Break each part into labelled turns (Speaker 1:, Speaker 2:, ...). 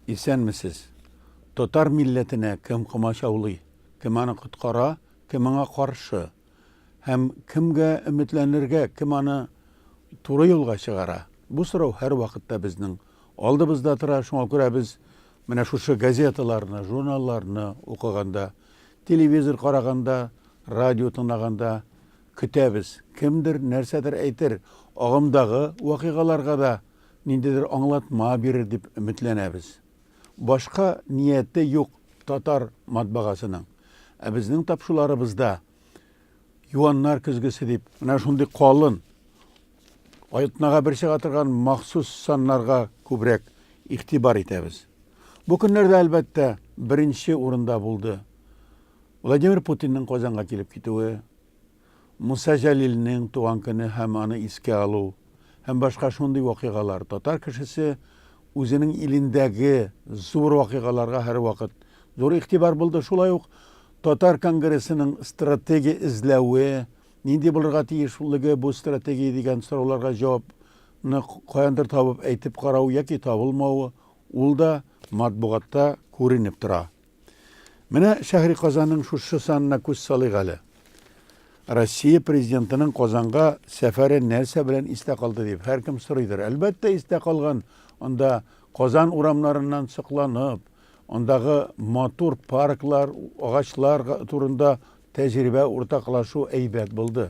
Speaker 1: Исәнмесез! Татар милләтенә кем комачаулый, кем аны коткара, кем аңа каршы? Һәм кемгә өметләнергә, кем аны туры юлга чыгара? Бу сорау һәрвакытта безнең алдыбызда тора. Шуңа күрә без менә шушы газеталарны, журналларны укыганда, телевизор караганда, радио тыңлаганда Көтәбез, кемдер нәрсәдер әйтер, агымдагы вакыйгаларга да ниндидер аңлатма бирер дип өметләнәбез. Башка нияте юк татар матбагасының. Ә безнең тапшуларыбызда Юаннар көзгесе дип, менә шундый калын, атнага бер чыга торган махсус саннарга күбрәк игътибар итәбез. Бу көннәрдә, әлбәттә, беренче урында булды Владимир Путинның Казанга килеп китүе, Муса Җәлилнең туган көне һәм аны искә алу һәм башка шундый вакыйгалар, татар кешесе үзенең илендәге зур вакыйгаларга һәрвакыт зур игътибар булды. Шулай ук татар конгрессының стратегия эзләве, нинди булырга тиешлеге бу стратегия дигән сорауларга җавапны каяндыр табып әйтеп карау яки табылмавы, ул да матбугатта күренеп тора. Менә Шәһри Казанның шушы санына күз салыйк әле. Россия Президентының Казанга сәфәре нәрсә белән истә калды дип һәркем сорыйдыр. Әлбәттә, истә калган анда Казан урамнарыннан сокланып, андагы матур парклар, агачлар турында тәҗрибә уртаклашу әйбәт булды.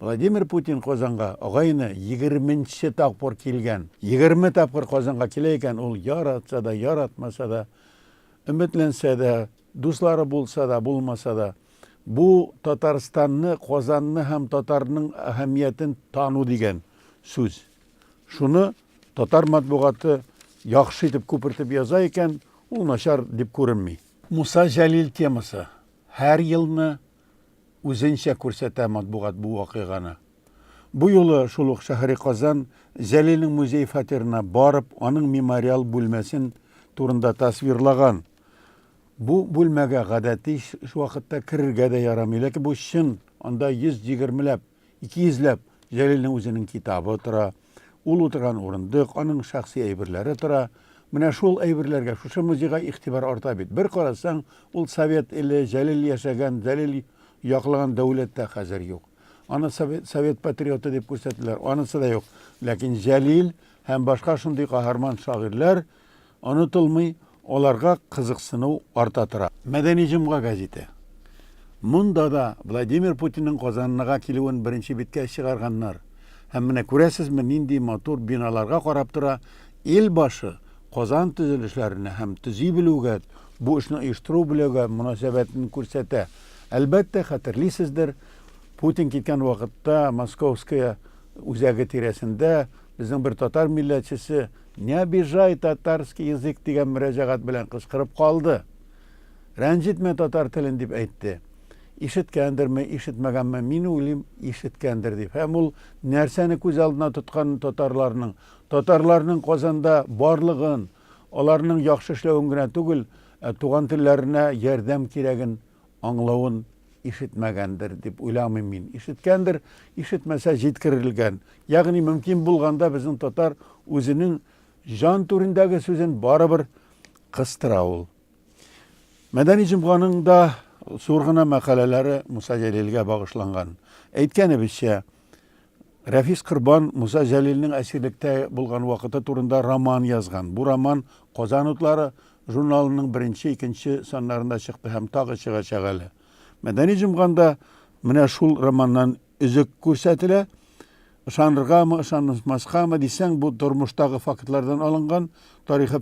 Speaker 1: Владимир Путин Казанга агайны егерменче тапкыр килгән. Егерме тапкыр Казанга килә икән ул, яратса да, яратмаса да, өметләнсә дә, дуслары булса да, булмаса да. Бу, Татарстанны, Казанны һәм татарның әһәмиятен тану дигән сүз. Шуны татар матбугаты яхшы итеп күпертеп яза икән, ул начар дип күренми. Муса Җәлил темасы, һәр елны үзенчә күрсәтә матбугат бу вакыйганы. Бу юлы шул ук Шәһри Казан Зәлинең музей фатирына барып, аның мемориал бүлмәсен турында тасвирлаган. Бу бүлмәгә гадәти вакытта керергә дә ярамый, ләкин бу чын, анда 120 ләп Ике йөзләп Җәлилнең үзенең китабы тора, ул утырган урындык, аның шәхси әйберләре тора. Менә шул әйберләргә, шушы музейга игътибар арта бит. Бер карасаң, ул совет иле, Җәлил яшәгән, Җәлил яклаган дәүләт тә хәзер юк. Аны совет патриоты дип күрсәтәләр, анысы да юк. Ләкин Җәлил һәм башка шундый каһарман шагыйрьләр Онытылмый, аларга кызыксыну арта тора. Мәдәни җомга гәзите. Монда да Владимир Путинның Казаннага килүен беренче биткә чыгарганнар. Һәм менә күрәсезме, нинди матур биналарга карап тора ил башы! Казан төзелешләренә һәм төзи белүгә, бу эшне оештыру бүләге мөнәсәбәтен күрсәтә. Әлбәттә, хәтерлисездер, Путин киткән вакытта Московская үзәге тирәсендә безнең бер татар милләтчесе Не обижай татарский язык дигән мөрәҗәгать белән кычкырып калды. Рәнҗетмә татар телен дип әйтте. Ишеткәндерме, ишетмәгәнме, мин уйлыйм, ишеткәндер дип. Һәм ул нәрсәне күз алдына тотканын татарларның, татарларның Казанда барлыгын, аларның яхшы эшләвен генә түгел, ә туган телләренә ярдәм кирәген аңлавын ишетмәгәндер дип уйламыйм мин. Ишеткәндер, ишетмәсә җиткерелгән. Ягъни мөмкин булганда безнең татар үзенең җан түрендәге сүзен барыбер кыстыра ул. Мәдәни җомганың да зур гына мәкаләләре Муса Җәлилгә багышланган. Әйткәнебезчә, Рәфис Корбан Муса Җәлилнең әсирлектә булган вакыты турында роман язган. Бу роман Казан утлары журналының беренче, икенче саннарында чыкты һәм тагы чыгачак әле. Мәдәни җомганда менә шул романнан өзек күрсәтелә. Ышаныргамы, ышанмаскамы дисәң, бу тормыштагы фактлардан алынган, тарихи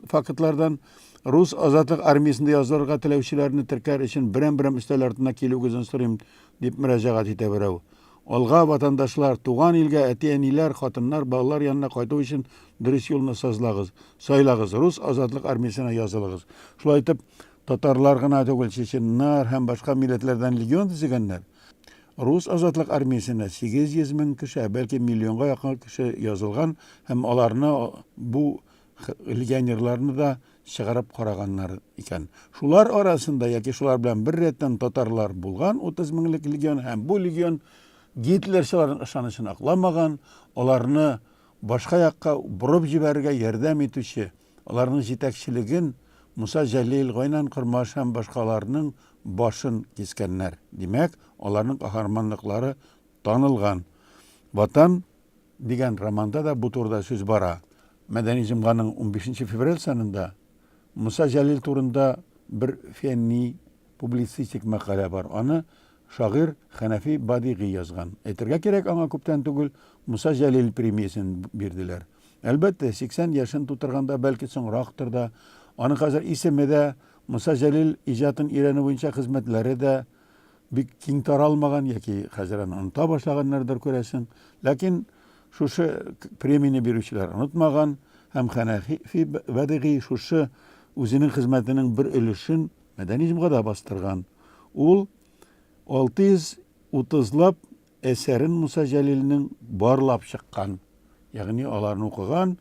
Speaker 1: фактлардан. Рус азатлык армиясендә язылырга теләүчеләрне теркәр өчен берәм-берәм өстәл артына килүегезен сорыйм, дип мөрәҗәгать итә берәү. Алга, ватандашлар! Туган илгә, әти-әниләр, хатыннар, балалар янына кайту өчен дөрес юлны сазлагыз, сайлагыз, рус азатлык армиясенә язылыгыз. Шулай итеп, татарлар гына түгел, чеченнар һәм башка милләтләрдән легион төзегәннәр. Рус азатлык армиясенә 800 мең кеше, ә бәлки миллионга якын кеше язылган һәм аларны бу легионерларны да чыгарып караганнар икән. Шулар арасында яки шулар белән бер рәттән татарлар булган 30 меңлек легион һәм бу легион гитлерчыларның ышанычын акламаган, аларны башка якка борып җибәрергә ярдәм итүче, аларның җитәкчелеген Муса Җәлил, Гайнан Кормаш һәм башкаларның башын кискәннәр. Димәк, аларның каһарманлыклары танылган. Ватан Дигән романда да бу турыда сүз бара. Мәдәни җомганың унбишенче февраль санында Муса Җәлил турында бер фәнни-публицистик мәкалә бар. Аны шагыйрь Хәнәфи Бадигый язган. Әйтергә кирәк, аңа күптән түгел Муса Җәлил премиясен бирделәр. Әлбәттә, сиксән яшен тутырганда, бәлки, соңрактыр да. Аның хәзер исеме дә, Муса Җәлил иҗатын өйрәнү буенча хезмәтләре дә бик киң таралмаган яки хәзер аны оныта башлаганнардыр, күрәсең. Ләкин шушы премияне бирүчеләр онытмаган һәм Хәнәфи Бәдыйгый шушы үзенең хезмәтенең бер өлешен мәдәни җомгада бастырган. Ул 630 лап Әсәрен Муса Җәлилнең барлап чыккан, ягъни аларны укыган,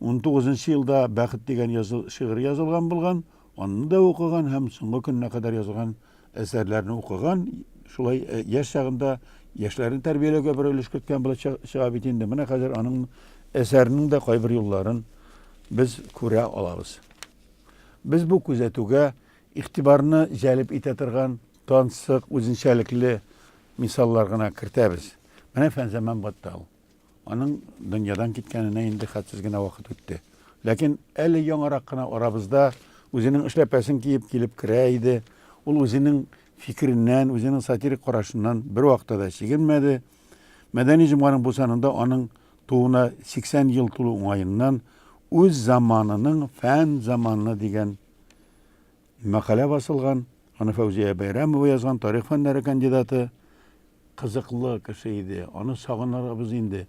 Speaker 1: унтугызынчы елда Бәхет дигән язу шигырь язылган булган, аны да укыган һәм соңгы көненә кадәр язылган әсәрләрне укыган, шулай яшь чагында яшьләрне тәрбияләүгә бер өлеш керткән булып чы чыга бит инде. Менә хәзер аның әсәренең дә кайбер юлларын без күрә алабыз. Без бу күзәтүгә Игътибарны җәлеп итә торган тансык, үзенчәлекле мисаллар гына кертәбез. Менә Фәнзаман Баттал. Аның дөньядан киткәненә инде хәтсез генә вакыт үтте. Ләкин әле яңарак кына арабызда үзенең эшләпәсен киеп килеп керә иде. Ул үзенең фикереннән, үзенең сатирик карашыннан бервакытта да чигенмәде. Мәдәни җомганың бу санында аның тууына 80 ел тулу уңаеннан үз заманының фән заманы дигән Мәкалә басылган, аны Фәүзия Бәйрәмова язган, тарих фәннәре кандидаты. Кызыклы кеше иде, аны сагынырбыз инде.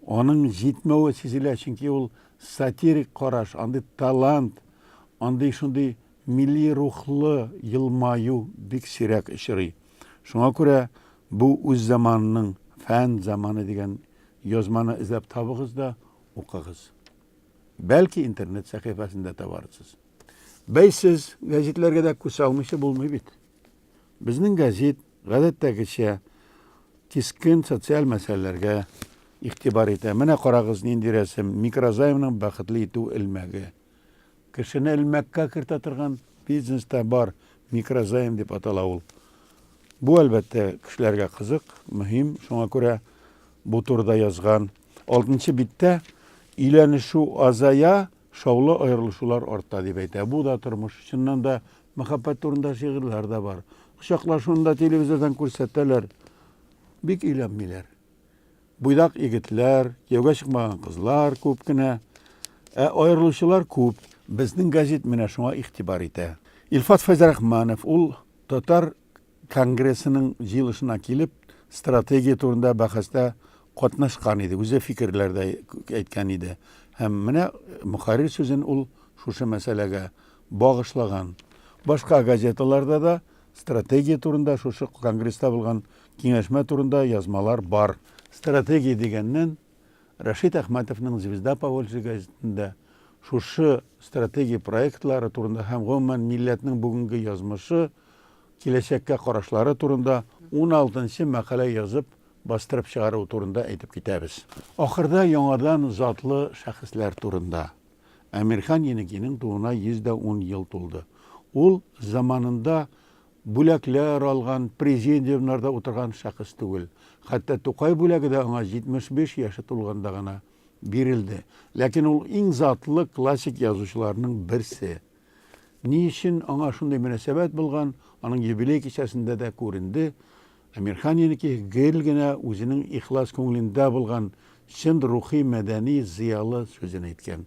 Speaker 1: Аның җитмәве сизелә, чөнки ул сатирик караш, андый талант, андый шундый милли рухлы елмаю бик сирәк очрый. Шуңа күрә бу үз заманының фән заманы дигән язманы эзләп табыгыз да укыгыз. Бәлки интернет сәхифәсендә табарсыз. Бәйсез гәзитләргә дә күз алмыйча булмый бит. Безнең гәзит гадәттәгечә кискен социаль мәсьәләләргә игътибар итә. Менә карагыз нинди рәсем, микрозаймның бәхетле итү элмәге. Кешене элмәккә кертә торган бизнеста бар микрозайм дип атала ул. Бу әлбәттә кешеләргә кызык, мөһим, шуңа күрә бу турыда язган Алтынчы биттә өйләнешү азая, шаулы аерылышулар арта, дип әйтә. Бу да тормыш. Чыннан да, мәхәббәт турында шигырьләр дә бар. Кочаклашуны да телевизордан күрсәтәләр. Бик өйләнмиләр. Буйдак егетләр, кияүгә чыкмаган кызлар күп кенә. Ә аерылучылар күп. Безнең газет менә шуңа игътибар итә. Илфат Фәйзрахманов, ул татар конгрессының җыелышына килеп, стратегия турында бәхәстә катнашкан иде, үзе фикерләр дә әйткән иде. Һәм менә мөхәррир сүзен ул шушы мәсьәләгә багышлаган. Башка газеталарда да стратегия турында, шушы конгресста булган киңәшмә турында язмалар бар. Стратегия дигәннән, Рәшит Әхмәтовның Звезда Поволжья газетында шушы стратегия проектлары турында һәм гомумән милләтнең бүгенге язмышы, Киләчәккә карашлары турында уналтынчы мәкалә язып, бастырып чыгару турында әйтеп китәбез. Ахырда яңадан затлы шәхесләр турында. Әмирхан Енекинең тууына 110 ел тулды. Ул заманында бүләкләр алган, президиумнарда утырган шәхес түгел. Хәтта Тукай бүләге дә аңа 75 яше тулганда гына бирелде. Ләкин ул иң затлы классик язучыларның берсе. Ни өчен аңа шундый мөнәсәбәт булган, аның юбилей кичәсендә дә күренде, Әмирханинеке гел генә үзенең ихлас күңелендә булган чын рухи мәдәни зыялы сүзен әйткән.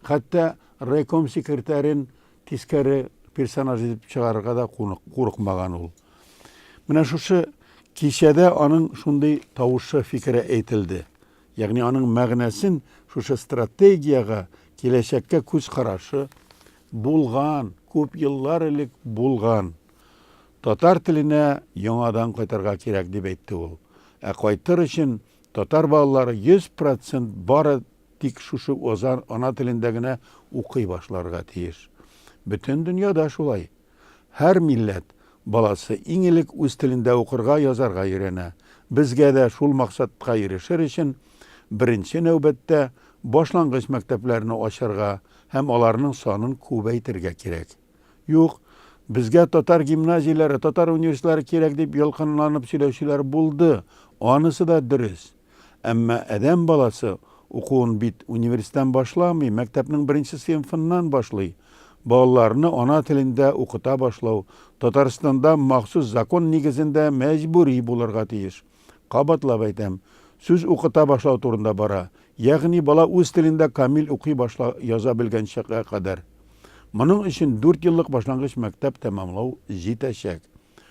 Speaker 1: Хәтта райком секретарен тискәре персонаж итеп чыгарырга да курыкмаган ул. Менә шушы кичәдә аның шундый тавышы, фикере әйтелде. Ягъни аның мәгънәсен шушы стратегиягә, киләчәккә күз карашы, булган, күп еллар элек булган татар теленә яңадан кайтырга кирәк, дип әйтте ул. Ә кайтыр өчен татар балалары 100 процент бары тик шушы ана телендә генә укый башларга тиеш. Бөтен дөньяда шулай. Һәр милләт баласы иң элек үз телендә укырга, язарга өйрәнә. Безгә дә шул максатка ирешер өчен, беренче нәүбәттә, башлангыч мәктәпләрне ачарга һәм аларның санын күбәйтергә кирәк. Юк, безгә татар гимназияләре, татар университетлары кирәк дип ялкынланып сөйләүчеләр булды, анысы да дөрес. Әмма адәм баласы укуын бит университеттан башламый, мәктәпнең беренче сыйнфыннан башлый. Балаларны ана телендә укыта башлау Татарстанда махсус закон нигезендә мәҗбүри булырга тиеш. Кабатлап әйтәм, сүз укыта башлау турында бара, ягъни бала үз телендә камил укый башла, яза белгәнчегә кадәр. Моның өчен дүртьеллык башлангыч мәктәп тәмамлау җитәчәк.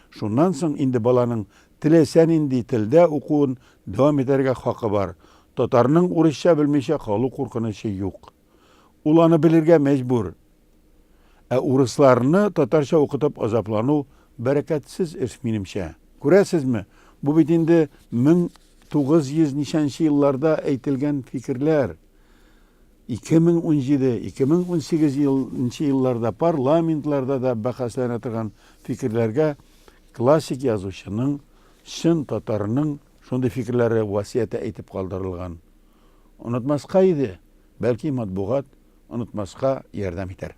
Speaker 1: Шуннан соң инде баланың теләсә нинди телдә укуын дәвам итәргә хакы бар, татарның урысча белмичә калу куркынычы юк. Ул аны белергә мәҗбүр. Ә урысларны татарча укытып азаплану бәрәкәтсез эш, минемчә. Күрәсезме, бу бит инде 1900 ничәнче елларда әйтелгән фикерләр. 2017, 2018 ел нче елларда парламентларда да бәхәсләнә торган фикерләргә классик язучының, чын татарның шундый фикерләре васыяте әйтеп калдырылган. Онытмаска иде, бәлки матбугат онытмаска ярдәм итәр.